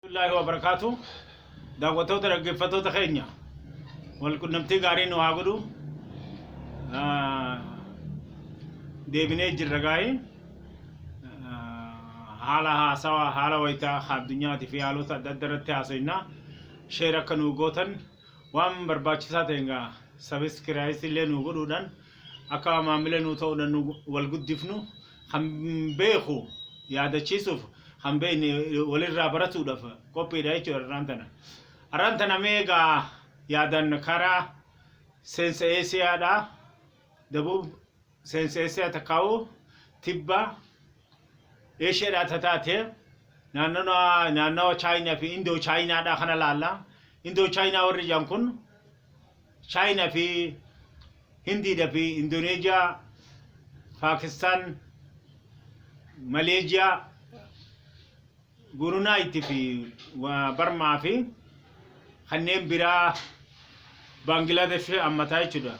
Warahamatullahi wabarakatu daawwattoota dhaggeeffattoota keenya wal qunnamtii gaarii nu haa godhu deebinee jirra gaa'ii haala haasawaa haala wayitaa addunyaati fi haalota adda adda irratti haasofna sheer akka nu gootan waan barbaachisaa ta'e egaa sabiskiraayis illee nu godhuudhaan Akka maammila nuu ta'u nannu wal guddifnu kan beeku yaadachiisuuf kan beekne walirraa baratuudhaaf qophiidha jechuudha arraan tana. Arraan tana mee egaa yaadaan karaa seensa Eesiyaadhaa dabuub seensa Eesiyaa takkaawuu tibba Eeshiyaadhaa tataate naannawa Chaayinaa fi Indoo Chaayinaadhaa kana laalla. Indoo Chaayinaa warri jedhan kun Chaayinaa fi Hindiidha fi Indooneeziyaa, Paakistaan, Maleeziyaa, Gurunaayit fi Barmaa fi kanneen biraa Baangilaadash fi ammataa jechuudha.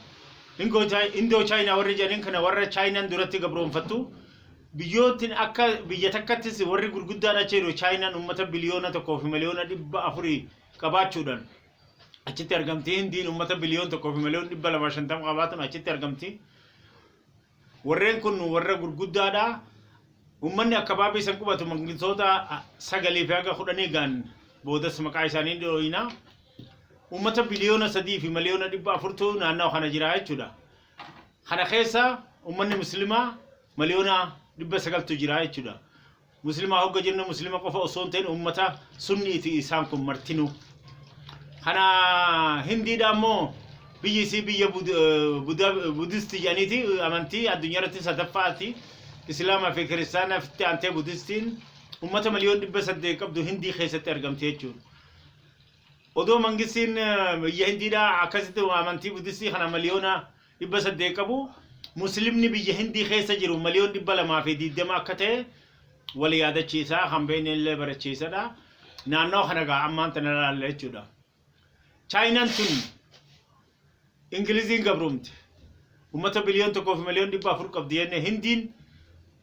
Indoo Chaayinaa warri jedhaniin kana warra Chaayinaan duratti gabroonfattu biyyoottiin akka biyya takkattis warri gurguddaan achi jiru Chaayinaan uummata biliyoona tokkoo fi miliyoona dhibba afurii qabaachuudhaan achitti argamti. Hindiin uummata biliyoon tokkoo fi miliyoon dhibba lamaa shantama qabaatuun achitti argamti. Warreen kun warra gurguddaa dha. Ummanni akkabaabii san qubatu mangiltoota sagalii fi haga kudhanii ga'an boodas maqaa isaanii ni dhooyina. Ummata biliyoona sadii fi miliyoona dhibba afurtu naannawa kana jira jechuudha. Kana keessa ummanni muslimaa miliyoona dhibba sagaltu jira jechuudha. Muslimaa hogga jennu Muslima qofa osoo hin ta'in ummata sunniiti isaan kun martinuu. Kana hindiidha ammoo biyyi isii biyya Bud- eh, Buda- eh, budisti jedhaniiti amantii addunyaa irratti sadaffaati. Islaamaa fi kiristaanaaf itti aantee budistiin ummata miliyoon dhibba saddeet qabdu hindii keessatti argamti jechuudha. Odoo mangistiin eh, biyya hindiidha akkasitti amantii budistii kana miliyoona 800 qabu, Muslimni biyya Hindii keessa jiru miliyoon 220 akka ta'e wal yaadachiisa, kan beekne illee barachiisadha. Naannawa kana egaa ammaan tana ilaalla jechuudha. Chaayinaan tun Ingiliziin gabroomte. Uummata biliyoon tokkoo fi miliyoon 400 qabdi jenne Hindiin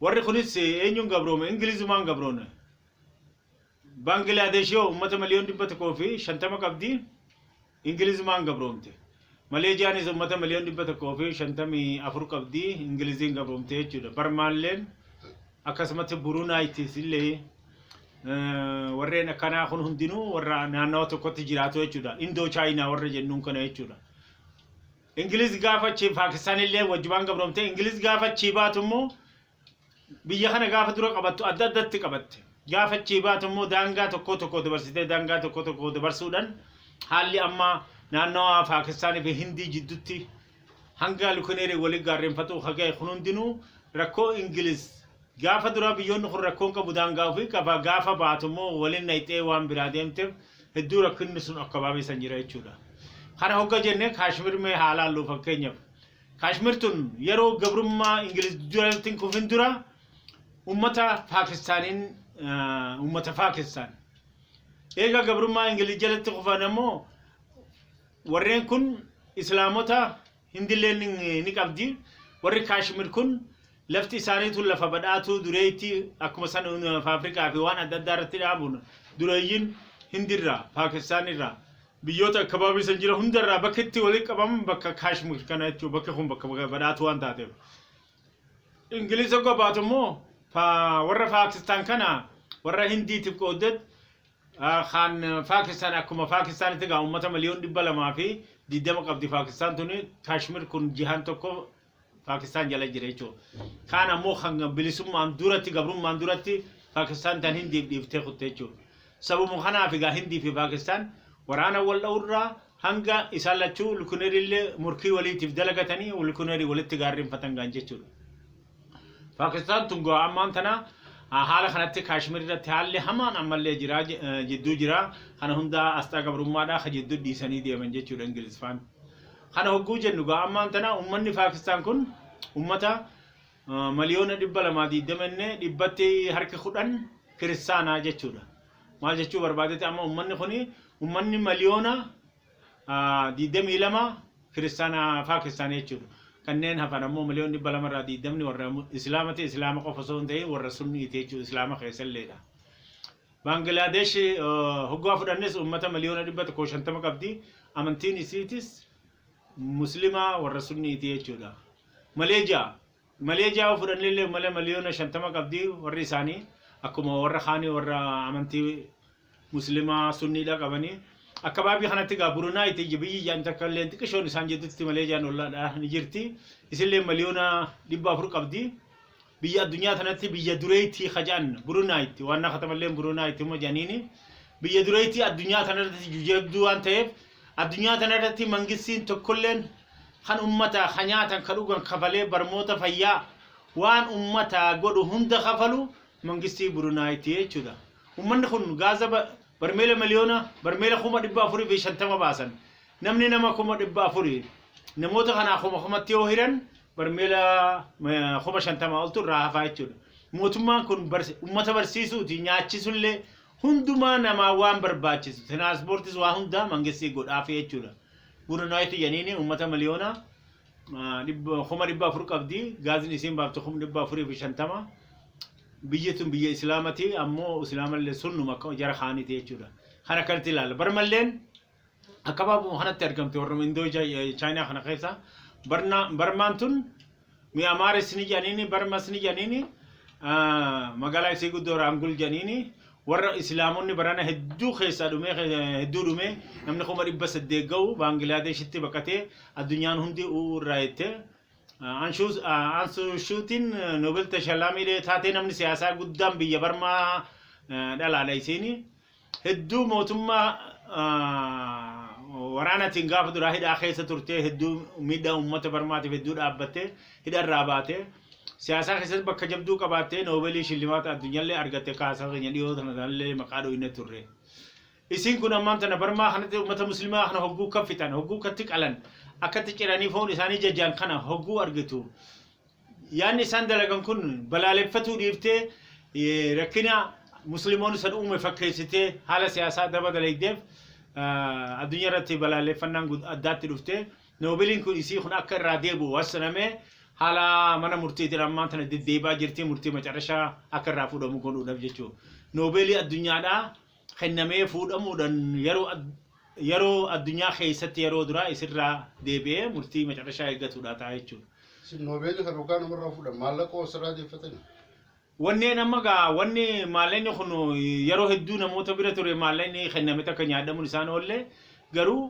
Warri kunis eenyuun gabroome? Ingilizumaan gabroone. Baangilaadesh yoo uummata miliyoon dhibba tokkoo fi shantama qabdi Ingilizumaan gabroomte. Maleeziyaanis uummata miliyoon dhibba tokkoo fi shantamii afur qabdi Ingiliziin gabroomte jechuudha. Barmaalleen akkasumatti Burunaayitis illee eh, warreen akkanaa kun hundinuu warra naannawa tokkotti jiraatu jechuudha. Indoo Chaayinaa warra jennuun kana jechuudha. Ingiliiz gaafa achi Paakistaan illee wajjumaan gabroomte. Ingiliiz gaafa achii baatu immoo biyya kana gaafa dura qabattu adda addatti qabatte. Gaafa achii baatu immoo daangaa tokkoo tokkoo dabarsitee daangaa tokkoo tokkoo dabarsuudhaan haalli amma naannawa Paakistaanii fi Hindii jiddutti hanga Lukineerii walii gaarreenfatuu haga'e kun hundinuu rakkoo Ingiliiz Gaafa duraa biyyoonni kun rakkoon qabu daangaa ofii qaba gaafa baatu immoo walin dhayxee waan biraa deemteef hedduu rakkinni sun akkabaabee san jira jechuudha. Kana hogga jenne Kaashmir mee haa laallu fakkeenyaf Kaashmir tun yeroo gabrummaa Ingiliz jalatti hin kufin dura ummata Paakistaaniin ummata Paakistaan. Eega gabrummaa Ingiliz jalatti kufan ammoo warreen kun Islaamota Hindilleen ni qabdi. Warri Kaashmir kun lafti isaaniitu lafa badhaatuu dureeytii akkuma san lafa Afrikaa fi waan adda addaa irratti dhaabuun dureeyyiin Hindirraa, Paakistaan irraa, biyyoota akkabaabii san jira hundarraa bakki itti walitti qabaman bakka Kaashmir kana jechuudha. Bakki kun bakka badhaatuu waan taateef. Ingiliz hogga baatu immoo warra Paakistaan kana warra Hindiitiif qooddeet Kan Paakistaan akkuma Paakistaanitti egaa uummata miliyoon dhibba lamaa fi digdama qabdi Paakistaan tuni Kaashmir kun jihaan tokko Paakistaan jala jira jechuudha. Kaan ammoo kan bilisummaan duratti gabrummaan duratti Paakistaan tan Hindiif dhiiftee kutte jechuudha. Sababuma kanaaf egaa Hindii fi Paakistaan waraana wal dha'urraa hanga isaan lachuu lukuneerii illee morkii waliitiif dalagatanii lukuneerii walitti gaarreenfatan gaan jechuudha. Paakistaan tun gaa ammaan tana haala kanatti Kaashmir irratti haalli hamaan ammallee jira jidduu jira. Kana hundaa asxaa gabrummaadhaa ka jidduu dhiisanii deeman jechuudha Ingilizfaan. Kana hogguu jennu gaa ammaan tana ummanni Paakistaan kun ummata miliyoona dhibba lamaa diiddama inni dhibbatti harki kudhan kiristaanaa jechuudha. Maal jechuu barbaadete amma ummanni kuni ummanni miliyoona 22 kiristaana Paakistaan jechuudha. Kanneen hafan ammoo miliyoon 200 irraa 20 warra Islaamati. Islaama qofa osoo hin ta'in warra Sunniiti jechuudha. Islaama keessalleedha. Baangilaadesh hoggaa fudhannes uummata miliyoona 150 qabdi. Amantiin isiitis Muslimaa warra Sunniiti jechuudha. Maleejiyaa Malee ja'a yoo fudhannellee malee miliyoona shantama qabdi warri isaanii akkuma warra kaanii warra amantii muslimaa sunniidha qabanii akka baabii kanatti gaa burunaa itti ija biyyi ijaan takka illee xiqqishoon isaan jedhutti malee ijaan ollaadha ni jirti isillee miliyoona dhibba afur qabdi biyya addunyaa tanatti biyya dureetti kaja'an burunaa itti waan naqatamallee burunaa itti huma janiini biyya dureetti addunyaa tanatti jujabduu waan ta'eef Addunyaa tana irratti mangistiin tokkolleen kan ummataa ka nyaatan ka dhugan kafalee barmoota fayyaa waan ummataa godhu hunda kafalu mangistii Burunaayitti jechuudha. Ummanni kun gaaza barmeela miliyoona barmeela kuma dhibba afurii fi shantama baasan. Namni nama kuma dhibba afuri namoota kanaa kuma kumatti yoo hiran barmeela kuma shantama oltu irraa hafaa jechuudha. Mootummaan kun ummata barsiisuuti nyaachisullee Hundumaa namaa waan barbaachisu tiraaspoortis waa hundaa mangistii godhaafi jechuudha. Gurunaayitu janiini uummata miliyoona ah, dhibba- kuma dhibba afur qabdi gaazin isiin baaftu kuma dhibba afurii fi shantama biyyi tun biyya islaamati ammoo islaamallee sunnuma akka jara kaaniti jechuudha. Kan akkanatti ilaalla. Barmalleen Akka baabuma kanatti argamte warra Indoo Chaayinaa kana keessa Barmaan tun Mi'amaaris ni jedhaniini Barmas ni jedhaniini magaalaa isii guddoo Raangul jedhaniini warra Islaamonni barana hedduu keessaa dhumee hedduu dhumee namni kuma dhibba saddeet ga'u Baangilaadeshitti baqatee addunyaan hundi u'uu irraa jettee Ansuushuutiin Noobel Tashalaamiilee taatee namni siyaasaa guddaan biyya Barmaa dhalaadha isiini. hedduu mootummaa waraanatiin gaafa duraa hidhaa keessa turtee hedduu miidhaa uummata barmaatiif hedduu dhaabbattee hidharraa baatee siyaasaa keessatti bakka jabduu qabaattee noobeelii shillimaata addunyaallee argatte kaasaa keenya dhiyoo tana tanallee maqaa dhooyne turre. Isin kun ammaan tana barmaa kanatti uummata muslimaa kana hogguu kaffitan hogguu katti qalan akkatti ciranii foon isaanii jajaan kana hogguu argitu Yaanni isaan dalagan kun balaaleffatuu dhiiftee rakkina Muslimoonni san uume fakkeessitee haala siyaasaa daba dalaydeef addunyaa irratti balaaleffannaan addaatti dhufte. Noobiliin kun isii kun akka irraa deebi'u hassanamee haala mana murtiitiin ammaan tana deddeebaa jirti murtii macarashaa akka irraa fuudhamu godhuudhaaf jechuudha. Noobeelii addunyaadhaa kennamee fuudhamuudhan yeroo ad- yeroo addunyaa keessatti yeroo duraa isirraa deebi'ee murtii macarashaa eeggatuudha ta'a jechuudha. Isin noobeelii kan hoggaa namarraa fuudhan maallaqa osirraa deeffatanii. Wanneen amma gaa wanni maallaqni kun yeroo hedduu namoota bira ture maallaqni kenname takka nyaadhamuun isaan oolle garuu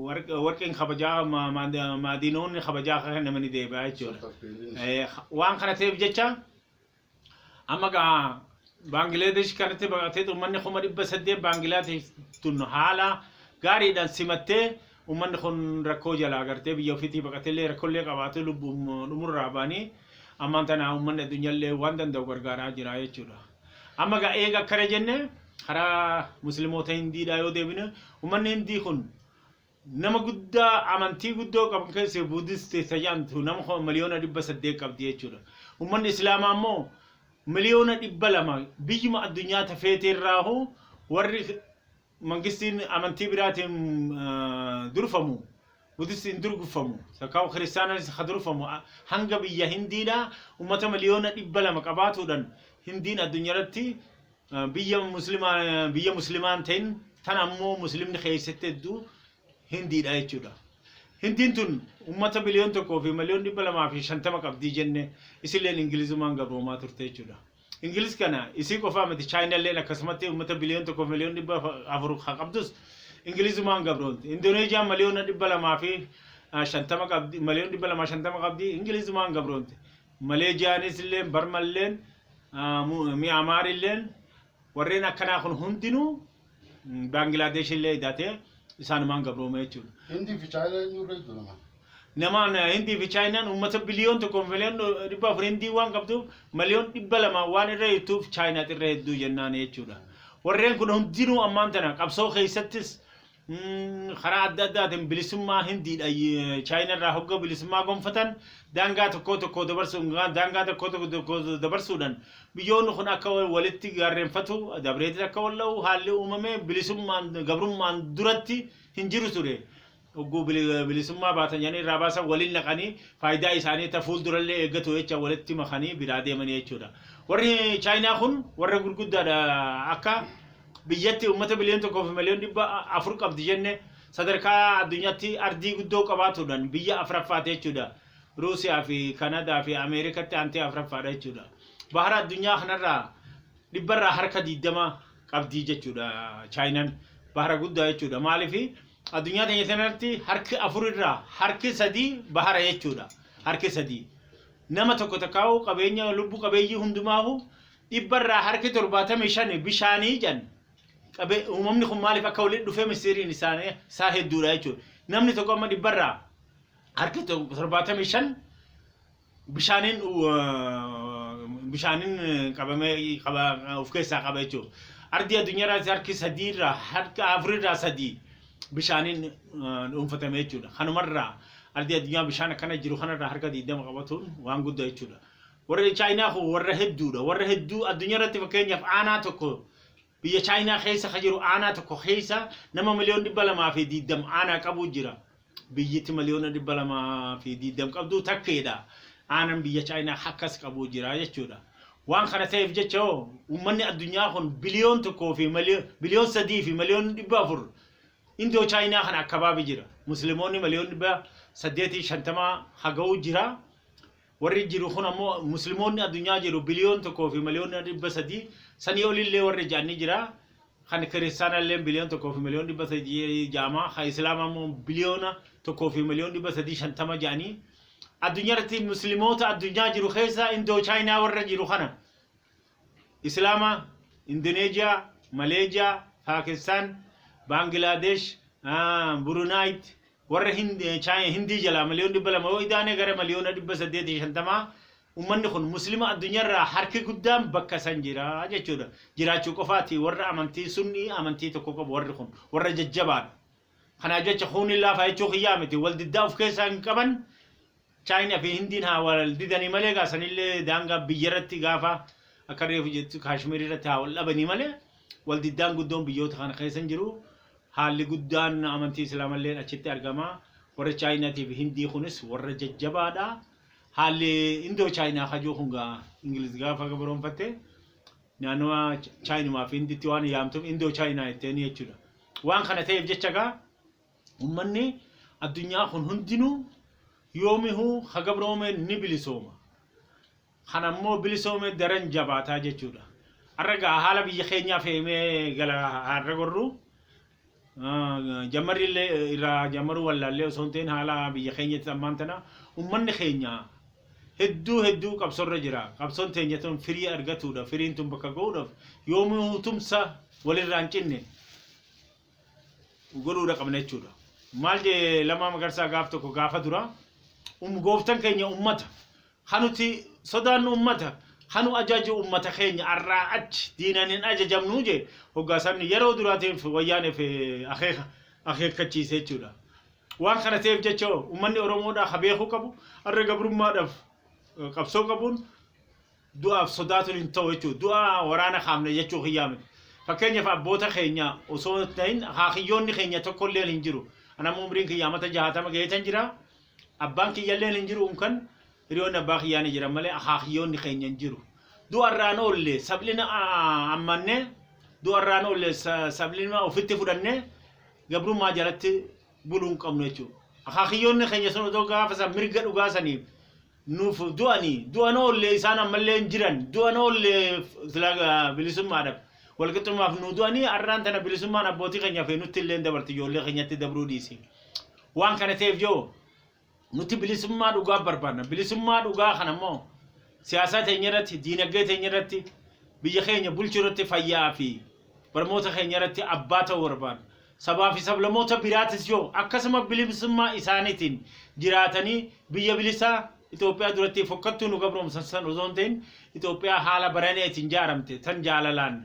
warq- warqeen kabajaa ma- ma- maadiinoonni kabajaa akka kennamanii deebi'aa jechuudha. Sultan Peelin. Eh, Waan kana ta'eef jecha Amma gaa Baangiladesh kanatti baqatee uummanni kuma dhibba saddeet Baangiladesh tun haala gaariidhaan simattee uummanni kun rakkoo jalaa agartee biyya ofiitii baqatellee rakkollee qabaatu lubbuun dhumurraa baanii ammaan tana uummanni addunyaallee waan danda'u gargaaraa jira jechuudha. Amma gaa eega akkana jenne karaa muslimoota hindiidhaa yoo deebine uummanni hindii kun Nama guddaa amantii guddoo qabu keessee Buddhist isa jedhamtu nama kuma miliyoona 800 qabdi jechuudha. Ummanni Islaamaa immoo miliyoona 200 biyyuma addunyaa tafeetii irraahu warri mangistiin amantii biraatiin durfamu Buddhistiin durgfamu takkaa kiristaananis ka durfamu hanga biyya Hindiidhaa ummata miliyoona 200 qabaatuudhan Hindiin addunyaratti biyya muslimaa biyya muslimaa hin ta'in tan ammoo muslimni keessatti hedduu hindiidha jechuudha. Hindiin tun uummata biliyoon tokkoo fi miliyoon dhibba lamaa fi shantama qabdii jenne isilleen ingilizumaan gabroomaa turte jechuudha. Ingilis kana isii qofaa miti chaayinalleen akkasumatti uummata biliyoon tokkoo fi miliyoon dhibba afur haa qabdus ingilizumaan gabroomte. Indoneeziyaan miliyoona dhibba lamaa fi shantama qabdi miliyoon dhibba lamaa shantama qabdi ingilizumaan gabroomte. Maleezhiyaanisilleen, Barmalleen, Miyaamaarilleen warreen akkanaa kun hundinuu Baangilaadeshillee idatee isaanumaan gabroome jechuudha. Hindii fi Chaayinaa eenyu irra hedduu namaan? Namaan Hindii fi Chaayinaan uummata biliyoon tokko miliyoon dhibba afur Hindii waan qabduuf miliyoon dhibba lamaa waan irra jirtuuf Chaayinaatu irra hedduu jennaan jechuudha. Warreen kun hundinuu ammaan tana qabsoo keessattis karaa adda addaatiin bilisummaa Hindiidha Chaayina irraa hogga bilisummaa gonfatan daangaa tokkoo tokkoo dabarsuun daangaa tokkoo tokkoo dabarsuudhaan biyyoonni kun akka walitti gaarreenfatu dabreetiin akka wal dha'u haalli uumame bilisummaan gabrummaan duratti hin jiru ture. Hogguu bilisummaa baatan jedhanii irraa baasan waliin naqanii faayidaa isaanii ta fuuldurallee eeggatu jecha walitti makanii biraa deemanii jechuudha. Warri Chaayinaa kun warra gurguddaadha akka Biyyatti ummata biliyoon 1 fi miliyoon 400 qabdi jenne sadarkaa addunyaatti ardii guddoo qabaatuudhaan biyya 4ffaati jechuudha. Ruusiyaa fi Kanadaa fi Ameerikatti aantee 4ffaadha jechuudha. Bahara addunyaa kanarraa dhibbarraa harka 20 qabdi jechuudha Chaayinaan. Bahara guddaa jechuudha. Maaliif addunyaa teenya sanarratti harki afurirraa harki sadii bahara jechuudha. Harki sadii. Nama tokko takkaa'u qabeenya lubbu qabeeyyii hundumaahu dhibba irraa harki 75 bishaanii jedhan qabe uumamni kun maaliif akka walitti dhufee mistiriin isaanii isaa hedduudha jechuudha. Namni tokko amma dhibba irraa harki 75 bishaaniin bishaaniin qabamee qaba of keessaa qaba jechuudha. Ardii addunyaa irraas harki sadii irraa harka afurii irraa sadii bishaaniin dhuunfatame jechuudha. Kanumarraa ardii addunyaa bishaan akkana jiru kanarraa harka 20 qabatuun waan guddaa jechuudha. Warri Chaayinaa kun warra hedduudha. Warra hedduu addunyaa irratti fakkeenyaaf aanaa tokko biyya Chaayinaa keessa ka jiru aanaa tokko keessa nama miliyoon dhibba lamaa fi diiddam aanaa qabu jira. Biyyiti miliyoona dhibba lamaa fi diiddam qabdu takkeedha. Aanan biyya Chaayinaa akkas qabu jira jechuudha. Waan kana ta'eef jecha hoo uummanni addunyaa kun biliyoon tokkoo fi biliyoon sadii fi miliyoon dhibba afur Indoo Chaayinaa kana akkabaabi jira. Muslimoonni miliyoon dhibba saddeetii shantama haga'u jira. Warri jiru kun ammoo Muslimoonni addunyaa jiru biliyoon tokkoo fi miliyoona dhibba sadii sanii olillee warri ja'an ni jira. Kan kiristaanallee biliyoon tokkoo fi miliyoon dhibba sadii ja'ama. Kan islaamaa immoo biliyoona tokkoo fi miliyoon dhibba sadii shantama ja'anii. Addunyaa irratti muslimoota addunyaa jiru keessaa indoo chaayinaa warra jiru kana. Islaamaa, Indoneezhiyaa, Maleezhiyaa, Paakistaan, Baangilaadeesh, Burunaayitti, warra Hindii jalaa miliyoona 200 yoo idaane gara miliyoona 850 ummanni kun Muslima addunyaarraa harki guddaan bakka san jira jechuudha. Jiraachuu qofaati warra amantii sunnii amantii tokko qabu warri kun warra jajjabaadha. Kanaaf jecha kuunni laafaa jechuu kiyyaa miti wal diddaa of keessaa hin qaban Chaayina fi Hindiin haa wal didanii malee gaa sanillee daangaa biyya irratti gaafa akka reefu jettu Kaashmiir irratti haa wal dhabanii malee wal diddaan guddoon biyyoota kana keessa hin jiru. Haalli guddaan amantii Islaamallee achitti argama. Warri Chaayinaatii fi Hindii kunis warra jajjabaadha. Haalli Indoo Chaayinaa kajuu kun gaa Ingiliz gaafa gabroonfatte naannawa Chaayinumaa fi Hinditti waan yaamtuuf Indoo Chaayinaa jetteen jechuudha. Waan kana ta'eef jecha gaa Ummanni addunyaa kun hundinuu yoomihuu ka gabroome ni bilisooma. Kana immoo bilisoome daran jabaataa jechuudha. Har'a gaa haala biyya keenyaa feemee gala har'a gorru jammarri illee irraa jammaruu wallaallee osoo hin ta'in haala biyya keenyatti ammaan tana ummanni keenya hedduu hedduu qabsorra jira. Qabsoon teenya tun firii argatuudha. Firiin tun bakka ga'uudhaaf yoomihuu tumsa walirraa hin cinne godhuudha qabna jechuudha. Maal jee lamaa magarsaa gaaf tokko gaafa dura um gooftan keenya ummata hanuti sodaannu ummata hanu ajaju ummata keenya arraa achi diinan hin ajajamnu jee hoggaasan yeroo duraatiif wayyaaneef akeeka akeekkachiise jechuudha. Waan kana ta'eef jecha ummanni Oromoodhaa ka beekuu qabu har'a gabrummaadhaaf qabsoo qabuun du'aaf sodaatuun hin ta'u jechuudha. Du'a waraana kaafne jechuu kiyyaa miti. Fakkeenyaaf abboota keenya osoo hin ta'in akaakiyyoonni keenya tokko illee hin jiru. Ani amma umriin kiyya amata jahaatama gaheetan jira. Abbaan kiyya illee hin jiru unkan hiriyoonni abbaa kiyyaa ni jiran malee akaakiyyoonni keenya hin jiru. Du'a irraan oolle sablina ammanne du'a irraan oolle sablina ofitti fudhanne gabrummaa jalatti buluu hin qabnu jechuudha. Akaakiyyoonni keenya sun odoo gaafa san mirga dhugaa saniif nuuf du'anii du'an oollee isaan ammallee hin jiran du'an oollee sila bilisummaadhaaf walqixxummaaf nu du'anii har'aan tana bilisummaan abbootii keenya fi nutti illee dabarti ijoollee keenyatti dabruu dhiisi waan kana ta'eef yoo nuti bilisummaa dhugaa barbaadna bilisummaa dhugaa kana immoo siyaasaa teenya irratti diinagdee teenya irratti biyya keenya bulchuu irratti fayyaa fi Barmoota keenya irratti abbaa ta'uu barbaanna. Sabaa fi sablamoota biraatis yoo akkasuma bilimsummaa isaaniitiin jiraatanii biyya bilisaa Itoophiyaa durattii fokkattuu nu gabroomsan san osoo hin ta'in Itoophiyaa haala baraneetiin jaaramte tan jaalalaan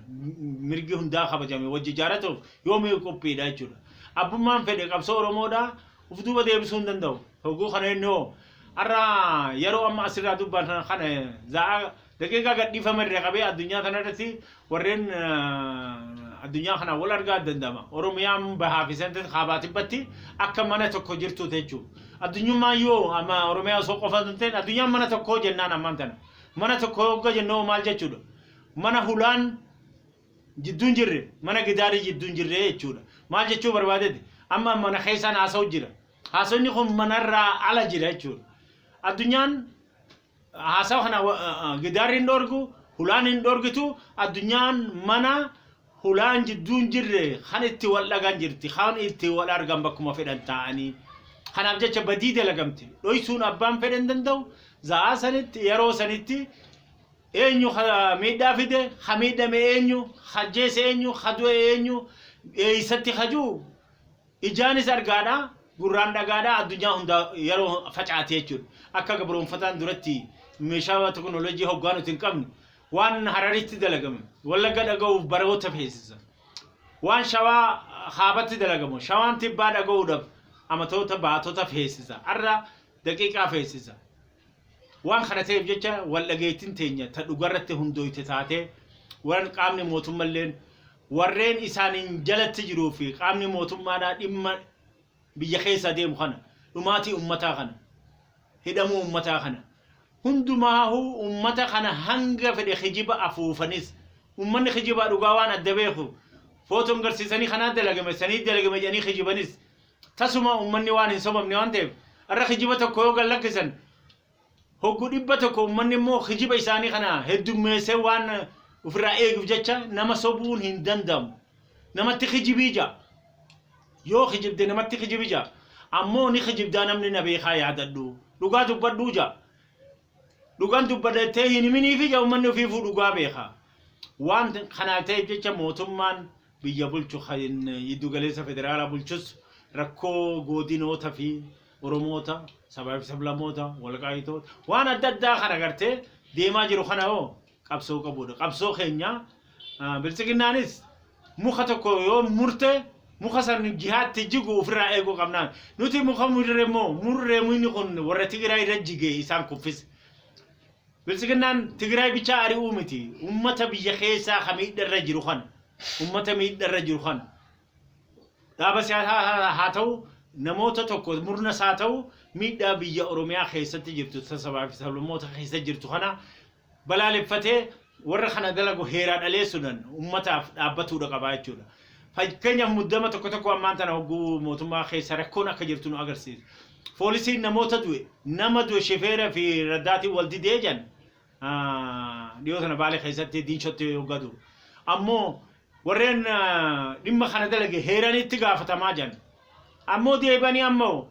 mirgi hundaa kabajame wajji jaaratuuf yoomiyuu qophiidha jechuudha. Abbummaan fedhe qabsoo Oromoodhaa uf duuba deebisuu hin danda'u. Hogguu kana inni hoo har'a yaroo amma asirraa dubbanna kana za'aa Daqiiqaa gadhiifama irraa qabee addunyaa kana irratti warreen addunyaa kanaan wal argaa danda'ama. Oromiyaan bahaa fi sanatti kaabaa tibbatti akka mana tokko jirtu jechuun. Addunyummaan yoo amma Oromiyaa osoo qofa hin ta'in addunyaan mana tokkoo jennaan ammaan tana. Mana tokko hogga jennoo maal jechuudha? Mana hulaan jidduun jirre mana gidaarii jidduun jirre jechuudha. Maal jechuu barbaadeti? Amma mana keessaan haasa'u jira. Haasofni kun manarraa ala jira jechuudha. Addunyaan Haasawa kana gidaarri hin dhoorgu, hulaan hin dhoorgitu, addunyaan mana hulaan jidduu hin jirre kan itti wal dhagan jirti, kan itti wal argan bakkuma fedhan taa'anii. Kanaaf jecha badii dalagamte dhoysuun abbaan fedhe hin danda'u, za'aa sanitti yeroo sanitti eenyu ka miidhaa fide, ka miidhame eenyu, ka ajjeese eenyu, ka du'e eenyu, eeysatti ka jiru Ijaanis argaadha, gurraan dhagaadha, addunyaa hundaa yeroo facaate jechuudha. Akka gabroomfataan duratti meeshaa teknolojii hoggaa nuti hin qabne waan Hararitti dalagame Wallagga dhaga'uuf baroota feesisa. Waan Shawaa Kaabatti dalagamu Shawaan Tibbaa dhaga'uudhaaf amatoota baatota feesisa. Har'a daqiiqaa feesisa. Waan kana ta'eef jecha waldhageettiin teenya ta dhugarratti hundooyte taatee waran qaamni mootummalleen warreen isaaniin jalatti jiruu fi qaamni mootummaadhaa dhimma biyya keessaa deemu kana dhumaatii ummataa kana hidhamuu ummataa kana hundumaahuu ummata kana hanga fedhe kijiba afuufanis ummanni kijibaa dhugaa waan adda beeku footoon garsiisanii kanaa dalagame sanii dalagame jedhanii kijibanis Tasuma ummanni waan hin sobamne waan ta'eef har'a kijiba tokko yoo gad lakkisan hoggu dhibba tokko ummanni immoo kijiba isaanii kana heddummeessee waan ofirraa eeguuf jecha nama sobuun hin danda'amu. Namatti kijibii ja'a. Yoo kijibde namatti kijibi ja'a. Ammoo ni kijibdaa namni na beekaa yaadadhu. Dhugaa dubbadhuu ja'a. Dhugaan dubbadha jettee hin himiniifi ja'a ummanni ofiifuu dhugaa beeka. Waan kanaaf ta'eef jecha mootummaan biyya bulchu kan yiddu galeessa federaalaa bulchus rakkoo goodinoota fi Oromoota sabaa fi sablamoota walqaayitoota waan adda addaa kan agartee deemaa jiru kana hoo qabsoo qabuudha. Qabsoo keenya biltsiginnaanis muka tokko yoo murte muka san jihaatti jigu ofirraa eeguu qabnaan. Nuti muka murre immoo murree muyni kun warra Tigiraa irra jigee isaan kuffise. Biltsiginnaan Tigraay bichaa ari'uu miti, uummata biyya keessaa ka miidha irra jiru kana, uummata miidha irra jiru kana, dhaaba siyaasaa haa ta'u, namoota tokko, murnas haa ta'u, miidhaa biyya Oromiyaa keessatti jirtu, ta sabaa fi sablammoota keessa jirtu kana balaaleffatee warra kana dalagu heeraa dhaleessuudhaan uummataaf dhaabbatuudha qaba jechuudha. Fakkeenyaaf muddama tokko tokko ammaan tana hogguu mootummaa keessa rakkoon akka jirtu nu agarsiisa. Poolisiin namoota du'e, nama du'e shifeera fi raddaatiin wal didee jedhan dhiyoo tana Baalee keessatti diinshootti hoggaa du'u. Ammoo warreen dhimma kana dalage heeranii itti gaafatamaa jedhan. Ammoo deebanii ammoo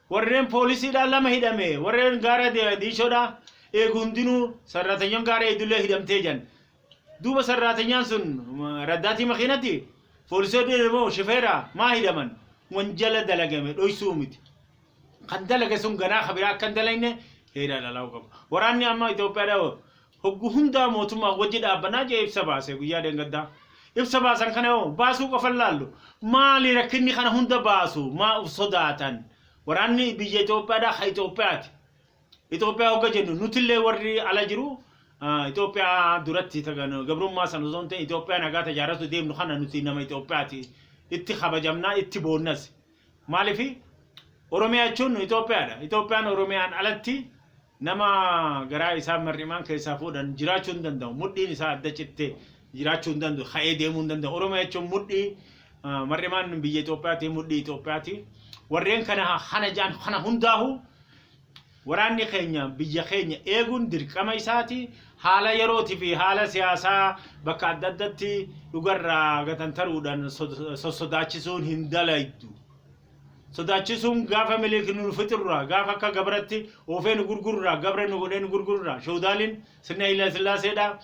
warreen poolisiidhaan lama hidhame warreen gaara diishoodhaa eegu hundinuu sarratanyaan gaara eegdullee hidhamtee jedhan. Duuba sarraatenyaan sun raddaatii makiinati foolisoonni moo shifeera maa hidhaman wanjala dalagame dhoysuu miti. Kan dalage sun ganaa ka biraa akka hin dalagne heera lalaa'uu qaba. Waraanni amma Itoophiyaadha hoggu hundaa mootummaa wajji dhaabbanaa jee ibsa baase guyyaa deengaddaa. Ibsa baasan kana yoo baasuu qofan laallu maali rakkinni kana hunda baasu maa uf sodaatan waraanni biyya Itoophiyaadha ka Itoophiyaati. Itoophiyaa hogga jennu nutillee warri ala jiru ah, Itoophiyaa duratti tagan gabrummaa sana osoo hin ta'in Itoophiyaa nagaa tajaaratu deemnu kana nuti nama Itoophiyaati itti kabajamnaa itti boonnas maalifi Oromiyaa jechuun Itoophiyaadha Itoophiyaan Oromiyaan alatti nama garaa isaa mar'imaan keessaa fuudhan jiraachuu hin danda'u mudhiin isaa adda cittee jiraachuu hin danda'u ka'ee deemuu hin danda'u Oromiyaa jechuun mudhii ah, mar'imaan biyya Itoophiyaati mudhii Itoophiyaati warreen kana kana jaan kana hundaahuu Waraanni keenya biyya keenya eeguun dirqama isaati. Haala yerootii fi haala siyaasaa bakka adda addatti dhugarraa gatantaruudhaan sossodaachisuun hin dalaydu. Sodaachisuun gaafa Minilik nu fixurraa, gaafa akka gabratti oofee nu gurgururraa, gabra nu godhee nu gurgururraa, Showdaaliin sirna Hayila Sillaaseedhaa,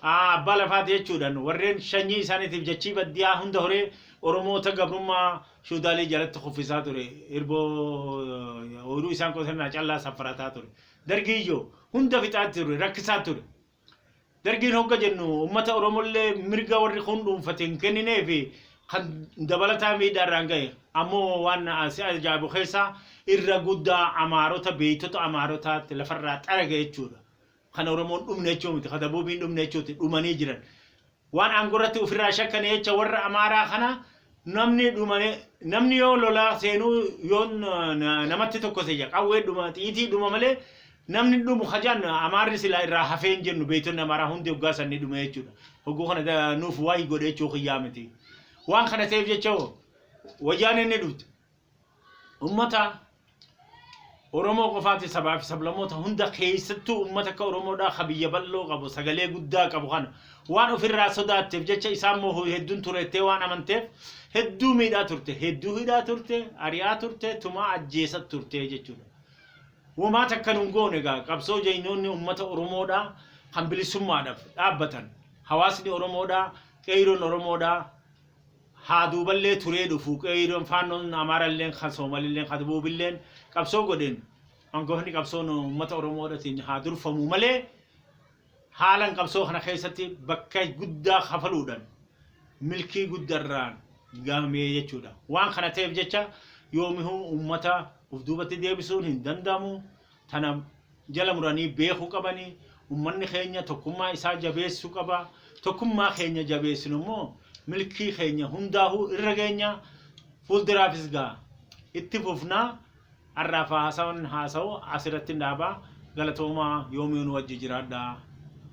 a. Abbaa lafaati jechuudhan warreen shanyii isaaniitiif jachii baddiyaa hunda horee Oromoota gabrummaa fiwudaalii jalatti kuffisaa ture hirboo ooyruu isaan qotannaa callaa saffarataa ture. Dargii yoo hunda fixaa ture rakkisaa ture. Dargiin hogga jennu ummata Oromollee mirga warri kun dhuunfate hin kenninee fi kan dabalataa miidhaa irraan gahe. Ammoo waan si ajaa'ibu keessaa irra guddaa Amaarota beeytota Amaarotaatti lafarraa xarage jechuudha. Kan Oromoon dhumne jechuu miti. Kan Dabuubiin dhumne jechuu miti. Dhumanii jiran. Waan aangoo irratti ofirraa shakkane jecha warra Amaaraa kana namni dhumane namni yoo lolaa seenuu yoo namatti tokkose jira qawwee dhuma xiitii dhuma malee namni dhumu hajaan Amaarri silaa irraa hafee hin jennu beektonni Amaaraa hundi hoggaa sanni dhume jechuudha. Hogguu kana da- nuuf waayii godhe jechuu kiyyaa miti. Waan kana ta'eef jecha hoo wayyaaneen ni dhufti. Ummata Oromoo qofaati sabaa fi sablamoota hunda keessattuu ummata akka Oromoodhaa ka biyya bal'oo qabu sagalee guddaa qabu kana waan ofirraa sodaatteef jecha isaan moohu hedduun tureettee waan amanteef hedduu miidhaa turte hedduu hidhaa turte ari'aa turte tumaa ajjeesa turte jechuudha. Womaa takka nun goone egaa qabsoo jaynoonni ummata Oromoodhaa kan bilisummaadhaaf dhaabbatan hawaasni Oromoodhaa qeeyroon Oromoodhaa haa duuballee turee dhufu qeeyroon faannoon amaaralleen kan soomalilleen kan dabuubilleen qabsoo godheen angoofni qabsoon ummata oromoodhatiin haa durfamuu malee haalan qabsoo kana keessatti bakka guddaa kafaluudhan milkii guddarraan gahamee jechuudha waan kana ta'eef jecha yoomihuu ummata uf duubatti deebisuun hin danda'amu tana jala muranii beeku qabani. Ummanni keenya tokkummaa isaa jabeessu qaba. Tokkummaa keenya jabeessinu immoo milkii keenya hundaahu irra geenya. Fuulduraafis gaa itti fufna. Har'aaf haasawan haasawu asirrattin dhaaba. Galatoomaa yoomiyuu nu wajji jiraadhaa.